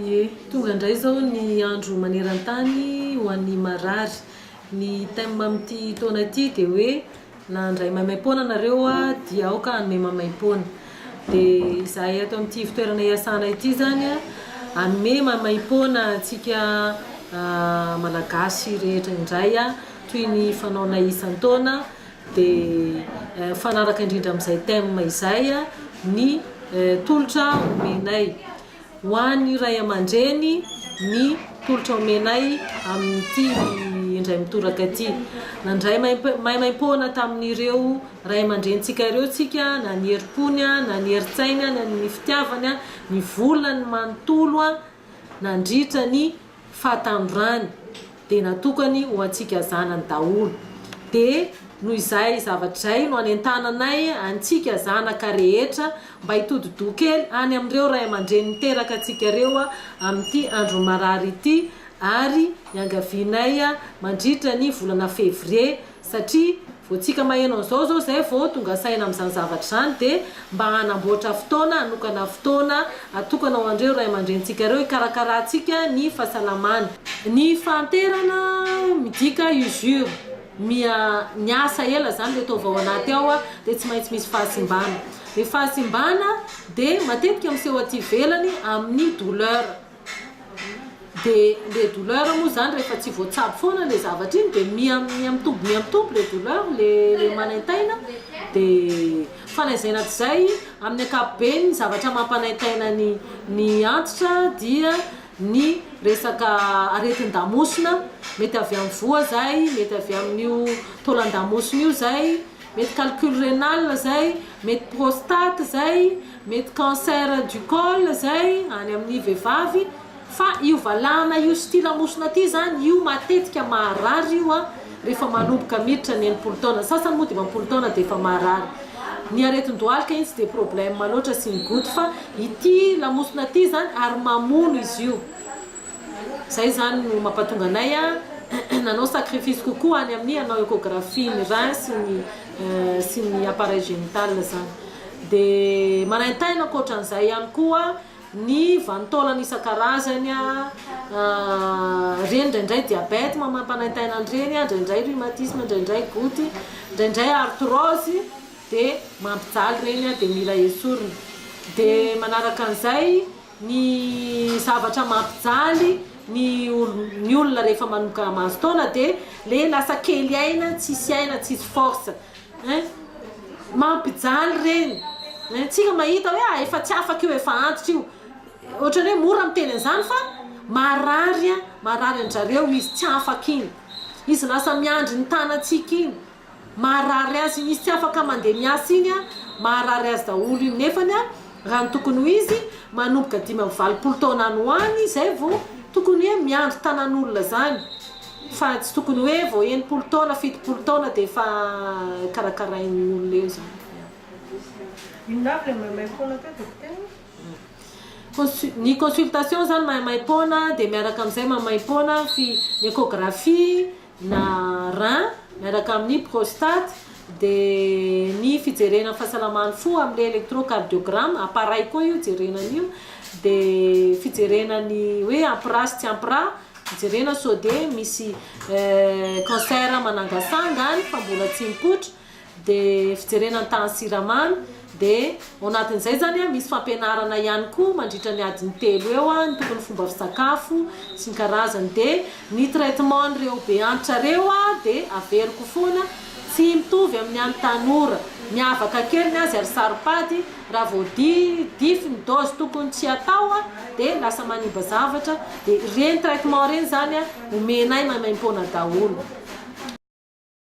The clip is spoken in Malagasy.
Ie, tonga indray izao ny andro maneran-tany ho an'ny marary. Ny thème amin'ity taona ity dia hoe na handray maimaim-poana nareo aho dia aoka hanome maimaim-poana. Dia izahay ato amin'ity ivon-toerana iasana ity izany hanome maimaim-poana antsika Malagasy rehetra indray toy ny fanaonay isan-taona. Dia mifanaraka indrindra amin'izay thème izay ny tolotra omenay. Ho an'ny ray aman-dreny ny tolotra omenay amin'ity indray mitoraka ity. Nandray maimaimpoana tamin'ireo ray aman-drenintsika ireo isika, na ny herim-pony, na ny herin-tsainy, na ny fitiavany, nivolany manontolo nandritra ny fahatandrony dia natokany ho antsika zanany daholo dia noho izay zavatra izay no anentananay antsika zanaka rehetra mba hitodi-doha kely any amin'ireo ray aman-dreny niteraka antsika ireo amin'ity andron'ny marary ity ary iangavianay mandritra ny volana février satria vao tsika maheno an'izao izao izay vao tonga saina amin'izany zavatra izany dia mba hanamboatra fotoana hanokana fotoana atokana ho an'ireo ray aman-drenintsika ireo hikarakarantsika ny fahasalamany. Ny fahanterana midika usure, miha niasa ela izany ilay taova ao anaty ao dia tsy maintsy misy fahasimbana, ny fahasimbana dia matetika miseho aty ivelany amin'ny douleur. Dia le douleur moa zany rehefa tsy voatsabo foana le zavatra iny dia miha miha mitombo miha mitombo le douleur le le manaintaina dia fa na izay na tsy izay amin'ny ankapobeny ny zavatra mampanaintaina ny ny antitra dia ny resaka aretin-damosina mety avy amin'ny voa zay mety avy amin'io taolan-damosina io zay Mety calcul renal zay, mety prostate zay, mety cancer du col zay any amin'ny vehivavy fa io valahana io sy ity lamosina ity zany io matetika maharary io an rehefa manomboka miditra ny enimpolo taona, ny sasany moa dimampolo taona dia efa maharary. Ny aretin-dohalika iny tsy dia problème loatra sy ny goty fa ity lamosina ity zany ary mamono izy io. Zay zany no mapatonga anay nanao sacrifice kokoa any amin'ny hanao echographie ny rein sy ny sy ny appareil génital zany. De maraintaina ankoatran'izay ihany koa ny vanin-taolana isan-karazany reny indraindray diabète mamapanaintaina an'ireny indraindray rhumatisme indraindray goutte indraindray arthrose de mampijaly reny de mila esorina de manaraka an'izay ny zavatra mampijaly ny ny olona rehefa manomboka mahazo taona dia le lasa kely aina tsisy aina tsisy force hein mampijaly ireny hein tsika mahita hoe ah efa tsy afaka io efa antitra io ohatrany hoe mora miteny an'izany fa marary a marary an-dry zareo izy tsy afaka iny izy lasa miandry ny tanantsika iny Maharary azy izy tsy afaka mandeha miasa iny a, maharary azy daholo iny nefany a raha ny tokony ho izy manomboka dimy amby valopolo taona any ho any zay vo tokony hoe miandry tanan'olona zany fa tsy tokony hoe vo enimpolo taona fitopolo taona de efa karakarain'ny olona eo zany ny consultation zany maimaipoana de miaraka amizay maimaimpoana ny echographie na rein, miaraka amin'ny prostate, dia ny fijerena ny fahasalaman'ny fo amin'ilay electrocardiogramme, appareil koa io jerena an'io, dia fijerena ny hoe ampira sy tsy ampira, jerena sao dia misy cancer manangasanga any fa mbola tsy mipoitra, de fijerena ny tahan'ny siramamy de ao anatin'izay zany a misy fampianarana ihany koa mandritra ny adiny telo eo a ny tokony fomba fisakafo sy ny karazany de ny traitement an'ireo be antitra reo a de averiko foana tsy mitovy amin'ny an'ny tanora miavaka kely ny azy ary saro-pady raha vao di dify ny dose tokony tsy atao a de lasa manimba zavatra de ireny traitement ireny zany a omenay maimaim-poana daholo